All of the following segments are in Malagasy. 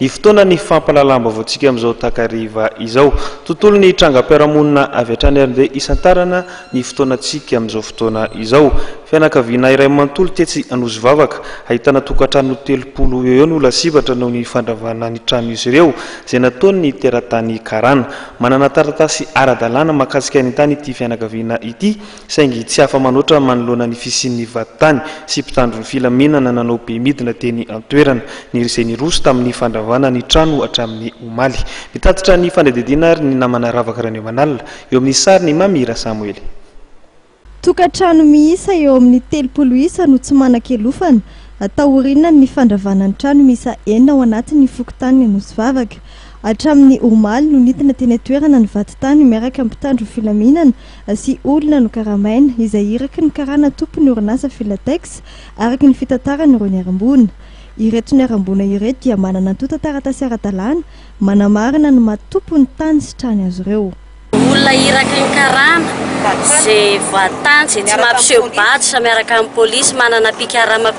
Ny fotoanan'ny fampahalalam-baovaontsika amin'izao takariva izao. Tontolon'ny trangam-piarahamonina avy hatrany ary ndeha hisantarana ny fotoanantsika amin'izao fotoana izao. Fianakaviana iray manontolo tetsy Anosivavaka, ahitana tokantrano telopolo eo eo no lasibatra noho ny fandravana ny tranon'izy ireo, izay nataon'ny teratany karana. Manana taratasy ara-dalàna mahakasika ny tany ity fianakaviana ity saingy tsy afa-manoatra manoloana ny fisian'ny vadintany sy mpitandro ny filaminana nanao be midina teny an-toerana, izay niroso tamin'ny fandravana ny trano hatramin'ny omaly. Mitatitra ny fanadihadiana ary ny namana Ravaka Ranemanala, eo amin'ny sarin'i Mamy Rasamoely. Tokantrano miisa eo amin'ny telopolo isa no tsy manan-kialofana, taoriana ny fandravana ny trano miisa enina ao anatin'ny fokontanin'ny Anosivavaka. Hatramin'ny omaly no nidina teny an-toerana ny vadintany miaraka amin'ny mpitandro ny filaminana, sy olona nokaramaina, izay iraky ny karana tompon'ny orinasa Filatex, araka ny fitantaran'ireo niharam-boina. Ireto niharam-boina ireto dia manana antontan-taratasy ara-dalàna manamarina ny maha tompon'ny tany sy trany azy ireo. Olona iraky ny karana izay voatany, izay tsy mampiseho badge miaraka amin'ny polisy, manana mpikarama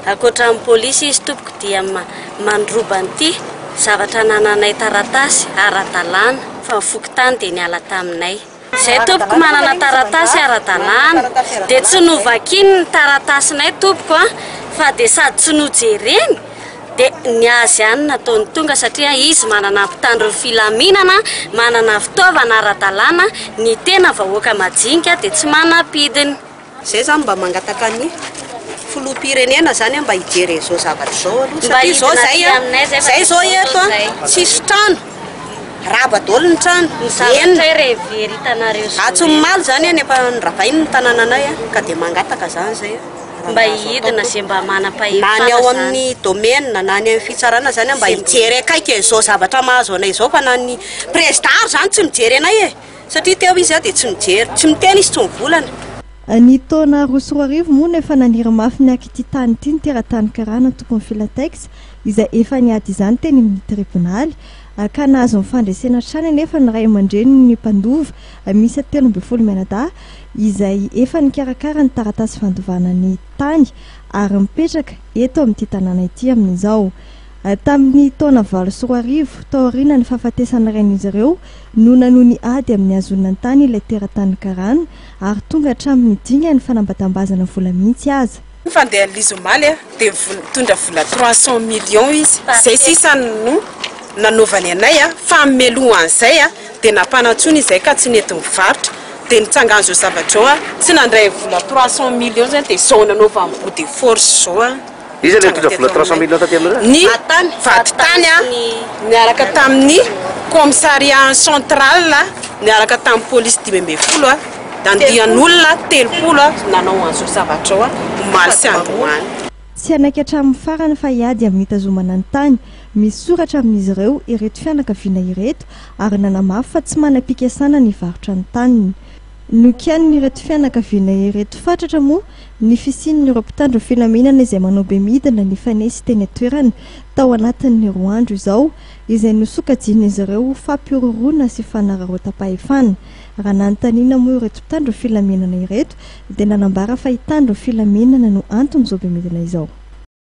ankoatran'ny polisy izy tompoko dia mandroba an'ity zavatra anananay taratasy ara-dalàna. fa ny fokontany dia niala taminay. Izay tompoko manana taratasy ara-dalàna dia tsy novakiny ny taratasinay tompoko a! fa dia sady tsy nojereny dia ny azy ihany nataony tonga satria izy manana mpitandro ny filaminana manana fitaovana ara-dalàna, ny tena vahoaka majinika dia tsy manam-pidiny. Zay zany mba mangataka ny filoham-pirenena zany mba hijery an'izao zavatra izao aloha satria zao zay a, zay zao eto a tsisy trano, rava daholo ny trano, miverina, atsimomaly zany any efa noravainy ny tanananay a, ka dia mangataka zany zay a, mba hidina ze mba manam-pahefana zany, na ny ao amin'ny domaine na ny any amin'ny fitsarana zany a mba hijery akaiky an'izao zavatra mahazo anay izao fa na ny président ary zany tsy mijery anay e. Satria teo izy dia tsy mijery, tsy miteny izy, tsy mivolana. Ny taona roa sy roa arivo moa no efa naniry mafy ny haka ity tany ity ny teratany karana antokony Filatex izay efa niady izany teny amin'ny tribonaly ka nahazo ny fandresena hatrany anefa ny ray aman-drenin'ny mpandova miisa telo ambin'ny folo mianadahy izay efa nikarakara ny taratasy fandovana ny tany ary mipetraka eto amin'ity tanàna ity amin'izao. Tamin'ny taona valo sy roa arivo, taorianan'ny fahafatesan'ny rain'izy ireo, no nanony ady amin'ny hahazonan-tany ilay teratany karàna, ary tonga hatramin'ny dingan'ny fanambatambazana vola mihitsy aza. Fandehan'izy omaly dia nitondra vola trois cents millions izy. Izay sisa no nanaovany anay, fa meloha an'izay dia nampanantsoina izahay ka tsy nety nivarotra. Dia nitsangan'izao zavatra izao, tsy nandray ny vola trois cents millions izany dia izao nanaovany bout de force izao. ny vadintany niaraka tamin'ny commissariat central niaraka tamin'ny police dimy ambin'ny folo nandian'olona telopolo nanao an'izao zavatra izao omaly sy androany. Tsy hanaiky hatramin'ny farany fa hiady amin'ny hitazomana ny tany. Misoratra amin'izy ireo ireto fianakaviana ireto ary nanamafy fa tsy manam-pikesana ny hivarotra ny taniny. Nokianin'ireto fianakaviana ireto fatratra moa ny fisian'ireo mpitandro filaminana izay manao bemidina nifanesy teny an-toerana tao anatin'ny roa andro izao, izay nosokajian'izy ireo ho fampihorohoroana sy fanararaotam-pahefana. Raha nanontaniana moa ireto mpitandro filaminana ireto dia nanambara fa hitandro filaminana no anton'izao bemidina izao.